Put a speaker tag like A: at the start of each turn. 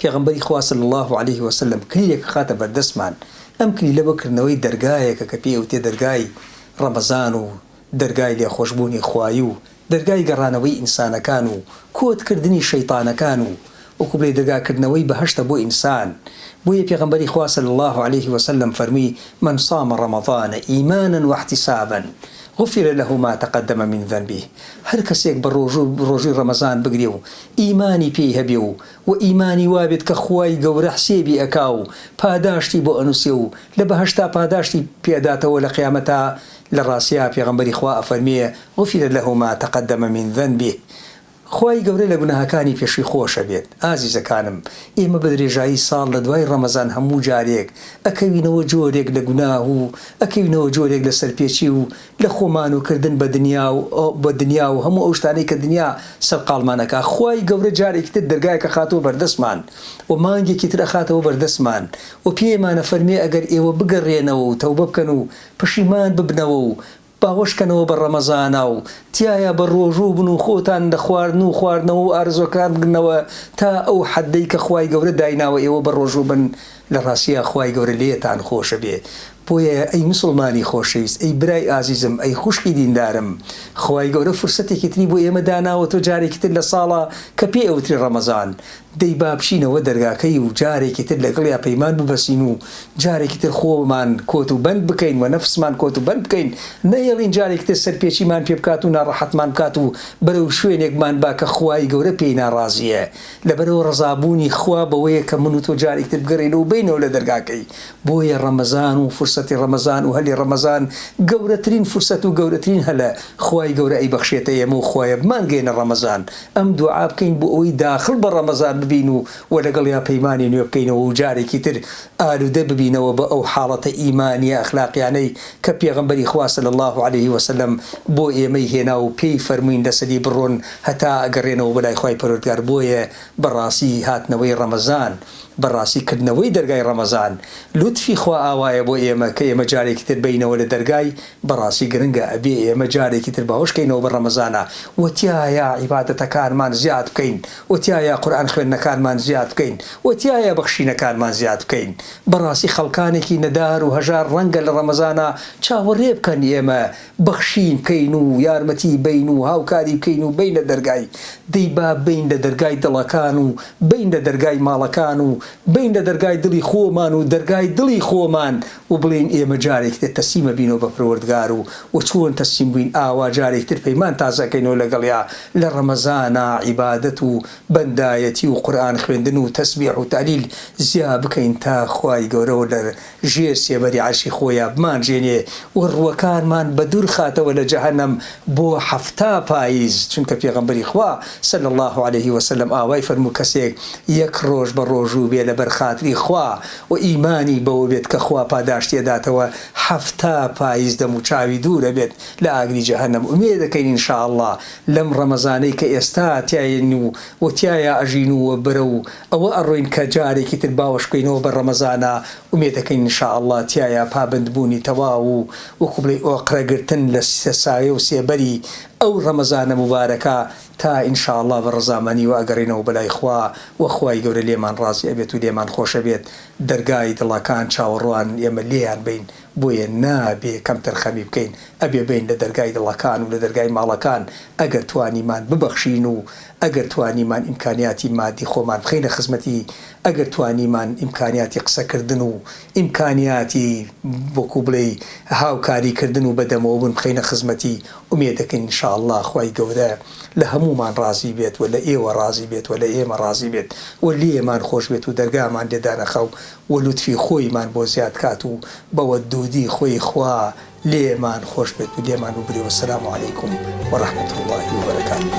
A: پێغەمبەری خوا صلی اللە علیە وسلم کلیلێک ئەخاتە بەردەستمان، ئەم کلیلە بۆ کردنەوەی دەرگایەکە کە پێی ئەوتێ دەرگای ڕەمەزان و دەرگای لێخۆشبوونی خوایی و دەرگای گەڕانەوەی ئینسانەکان و کۆت کردنی شەیتانەکان و وەکو بڵێی دەرگا کردنەوەی بەهەشتە بۆ ئینسان بۆیە پێغەمبەری خوا صلی اللە علیە وسلم فەرمووی من صام رمضان ایمانا واحتسابا غفر له ما تقدم من ذنبه هەر کەسێک بە ڕۆژوو ڕۆژووی ڕەمەزان بگرێ و ئیمانی پێی هەبێ و و ئیمانی وابێت کە خوای گەورە حسێبی ئەکا و پاداشتی بۆ ئەنوسێ و لە بەهەشتا پاداشتی پێ ئەداتەوە لە قیامەتا لە ڕاستیا پێغەمبەری خوا ئەفەرمێ غفر له ما تقدم من ذنبه خوای گەورە لە گوناهەکانی پێشوی خۆش ئەبێت ئازیزەکانم ئێمە بە درێژایی ساڵ لە دوای ڕەمەزان هەموو جارێک ئەکەوینەوە جۆرێک لە گوناه و ئەکەوینەوە جۆرێک لە سەرپێچی و لە خۆمان و کردن بە دنیا و بە دنیا و هەموو ئەو شتانەی کە دنیا سەرقاڵمان ئەکا خوای گەورە جارێکی تر دەرگایەک ئەخاتەوە بەردەستمان و مانگێکی تر ئەخاتەوە بەردەستمان و پێمان ئەفەرموێ ئەگەر ئێوە بگەڕێنەوە و تەوبە بکەن و پەشیمان ببنەوە و باوەش کەنەوە بە ڕەمەزانا و تیایا بە ڕۆژوو بن و خۆتان لە خواردن و خواردنەوە و ئارەزوەکان بگرنەوە تا ئەو حەدەی کە خوای گەورە دایناوە ئێوە بە ڕۆژوو بن لە ڕاستیا خوای گەورە لێتان خۆش بێ بۆیە ئەی مسوڵمانی خۆشەویست ئەی برای ئازیزم ئەی خوشکی دیندارم خوای گەورە فرسەتێکی تری بۆ ئێمە داناوەتەوە جارێکی تر لە ساڵە کە پێی ئەوترێ ڕەمەزان دەی با بچینەوە دەرگاکەی و جارێکی تر لەگڵیا پەیمان ببەسین و جارێکی تر خۆمان کۆت و بەند بکەین و نەفسمان کۆت و بەند بکەین نەهێڵین جارێکی تر سەرپێچیمان پێ بکات و ناڕەحەتمان بکات و بەرەو شوێنێک مان با کە خوای گەورە پێی ناڕازیە لەبەرئەوە ڕەزابوونی خوا بەوەیە کە من و تۆ جارێک تر بگەڕێینەوە بێینەوە لە دەرگاکەی، بۆیە ڕەمەزان و فرسەتی ڕەمەزان و هەلی ڕەمەزان گەورەترین فرسەت و گەورەترین هەلە، خوای گەورە ئەیبەخشێتە ئێمە و خوایە بمانگەیەنە ڕەمەزان، ئەم دوعا بکەین بۆ ئەوەی داخڵ بە ڕەمەزان ببین و وە لەگەڵیا پەیمانی نوێ بکەینەوە و جارێکی تر ئالودە ببینەوە بە ئەو حاڵەتە ئیمانیە ئەخلاقیانەی کە پێغەمبەری خوا صلی اللە علیە وسلم بۆ ئێمەی هێنا و پێی فەرمووین لەسەری بڕۆن هەتا گەڕێنەوە بۆ لای خوای پەروەردگار بۆیە بەڕاستی هاتنەوەی ڕەمەزان بەڕاستی کردنەوەی دەرگای ڕەمەزان لوتفی خوا ئاوایە بۆ ئێمە کە ئێمە جارێکی تر بێینەوە لە دەرگای بەڕاستی گرنگە ئەبێ ئێمە جارێکی تر باوەش کەینەوە بە ڕەمەزانە و تیایا عیبادەتەکانمان زیاد بکەین و تیایا قورئان خوێندنەکانمان زیاد بکەین و تیایا بەخشینەکانمان زیاد بکەین بەڕاستی خەڵکانێکی نەدار و هەژار ڕەنگە لە ڕەمەزانە چاوەڕێ بکەن ئێمە بەخشین بکەین و یارمەتی بەین و هاوکاری بکەین و بەینە دەرگای، دەی با بەین لە دەرگای دڵەکان و بەین لە دەرگای ماڵەکان و بەین لە دەرگای دڵی خۆمان و دەرگای دڵی خۆمان و بڵێین ئێمە جارێکی تر تەسلیمە بینەوە بە پەروەردگار و وە چۆن تەسلیم بووین ئاوا جارێکی تر پەیمان تازە ئەکەینەوە لەگەڵیا لە ڕەمەزانا عیبادەت و بەندایەتی و قورئان خوێندن و تەسبیح و تەهلیل زیا بکەین تا خوای گەورە ژێر سێبەری عەرشی خۆیا بمانژێنێ و ڕووەکانمان بەدوور خاتەوە لە جەهەنەم بۆ حەفتا پاییز، چونکە پێغەمبەری خوا، صلی اللە علیە وسلم، ئاوای فەرموو کەسێک یەک ڕۆژ بە ڕۆژوو بێ لەبەر خاتری خوا و ئیمانی بەوە بێت کە خوا پاداشتی ئەداتەوە حەفتا پاییز دەموچاوی دوور ئەبێت لە ئاگری جەهەنەم ئومێد ئەکەین ان شاء اللە لەم ڕەمەزانەی کە ئێستا تیایین و تیایا ئەژین و بەرەو ئەوە ئەڕۆین کە جارێکی تر باوەش بکەینەوە بە ڕەمەزانە ئومێد ئەکەین ان شاء اللە تیایا پابەند بوونی تەواو و وەکو بڵێی ئۆقرە گرتن لە سێ سایە و سێبەری ئەو ڕەمەزانە موبارەکە تا ان شاء اللە بە ڕەزامەنی و ئەگەڕێینەوە بەلای خوا و خوای گەورە لێمان ڕازی ئەبێت و لێمان خۆش ئەبێت دەرگای دڵەکان چاوەڕوان ئێمە لێیان بین بۆیە نابێ کەمتەرخەمی بکەین، ئەبێ بین لە دەرگای دڵەکان و لە دەرگای ماڵەکان، ئەگەر توانیمان ببەخشین و ئەگەر توانیمان ئیمکانیاتی مادی خۆمان بخەینە خزمەتی، ئەگەر توانیمان ئیمکانیاتی قسەکردن و ئیمکانیاتی وەکو بڵێی هاوکاری کردن و بەدەمەوە بوون بخەینە خزمەتی، ئومێدەکەین ان شاء اللە خوای گەورە لە هەموومان ڕازی بێت و لە ئێوە ڕازی بێت و لە ئێمە ڕازی بێت و لێمان خۆش بێت و دەرگامان لێ دانەخا و و لوتفی خۆی مان بۆ زیاد کات و بە وە دودی خۆی خوا لێ مان خۆش بێت و لێمان ببرێ وە سلام علیکم و رحمت اللە و برکاته.